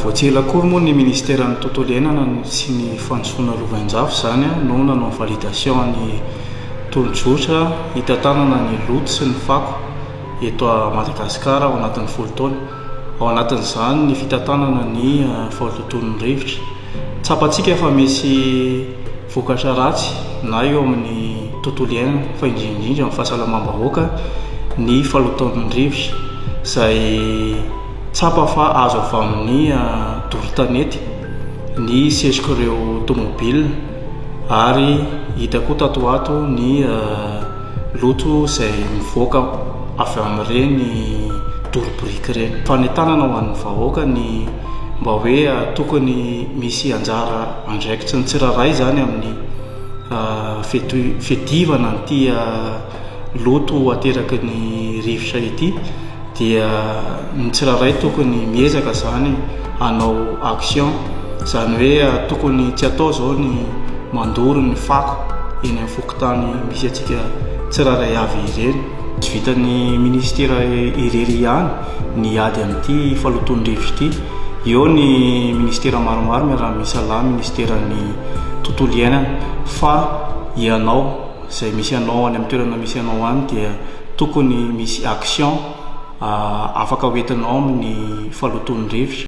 Vao tsy ela akory moa ny Ministeran'ny Tontolo Iainana sy ny Fandrosoana Lovainjafy izany no nanao ny validation ny tolo-jotra hitantanana ny loto sy ny fako eto Madagasikara ao anatin'ny folo taona. ao anatin'izany ny fitantanana ny fahatonton'ny rivotra. Tsapantsika fa misy vokatra ratsy na eo amin'ny tontolo iainana fa indrindra indrindra amin'ny fahasalamam-bahoaka ny fahalotoan'ny rivotra izay tsapa fa azo avy amin'ny doro tanety ny setrok'ireo tomobilina. Ary hita koa tato ho ato ny loto izay mivoaka avy amin'ireny doro biriky ireny. Fanentanana ho an'ny vahoaka ny mba hoe tokony misy anjara andraikitry ny tsirairay izany amin'ny fiadivana an'ity loto ateraky ny rivotra ity dia ny tsirairay tokony miezaka izany hanao action, izany hoe tokony tsy atao izao ny mandoro ny fako eny amin'ny fokontany misy antsika tsirairay avy ireny. Tsy vitan'ny minisitera irery ihany ny hiady amin'ity falotoan'ny rivotra ity, eo ny minisitera maromaro miaraha-misalahy, minisiteran'ny tontolo iainana fa ianao, Izay misy anao any amin'ny toerana misy anao any dia tokony misy action afaka ho entinao amin'ny falotoan'ny rivotra.